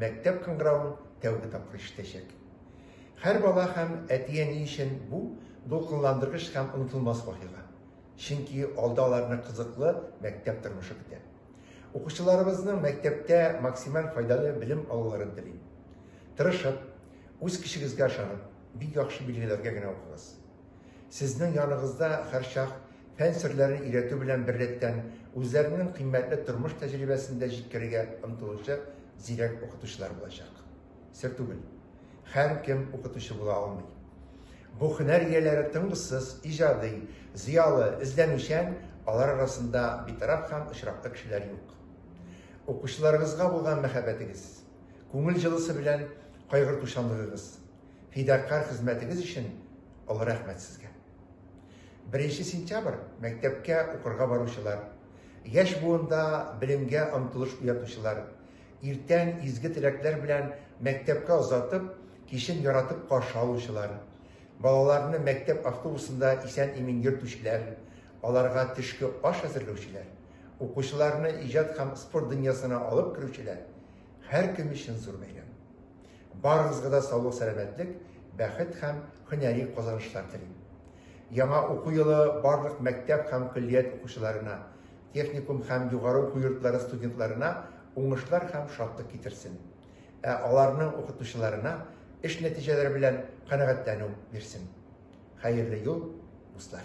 мәктәп кыңгыравын тәүге тапкыр ишетәчәк. Һәр бала һәм әти-әни өчен бу дулкынландыргыч һәм онытылмас вакыйга. Чөнки алда аларны кызыклы мәктәп тормышы көтә. Укучыларыбызның мәктәптә максималь файдалы белем алуларын телим. Тырышып, үз көчегезгә ышанып, бик яхшы билгеләргә генә укыгыз. Сезнең яныгызда һәрчак фән серләрен өйрәтү белән беррәттән, үзләренең кыйммәтле тормыш тәҗрибәсен дә җиткерергә омтылучы зирәк укытучылар булачак. Сер түгел, һәркем укытучы була алмый. Бу һөнәр ияләре тынгысыз, иҗади, зыялы, эзләнүчән, алар арасында битараф һәм очраклы кешеләр юк. Укучыларыгызга булган мәхәббәтегез, күңел җылысы белән кайгыртучанлыгыгыз, фидакарь хезмәтегез өчен олы рәхмәт сезгә. Беренче сентябрь мәктәпкә укырга баручылар, яшь буында белемгә омтылыш уятучылар, иртән изге теләкләр белән мәктәпкә озатып, кичен яратып каршы алучылар, балаларны мәктәп автобусында исән-имин йөртүчеләр, аларга төшке аш әзерләүчеләр, укучыларны иҗат һәм спорт дөньясына алып керүчеләр һәркем өчен зур бәйрәм. Барыгызга да саулык сәламәтлек, бәхет һәм һөнәри казанышлар телим. Яңа уку елы барлык мәктәп һәм көллият укучыларына, техникум һәм югары уку йортлары студентларына уңышлар һәм шатлык китерсен. Ә аларның укытучыларына эш нәтиҗәләре белән канәгатьләнү бирсен. Хәерле юл, дуслар!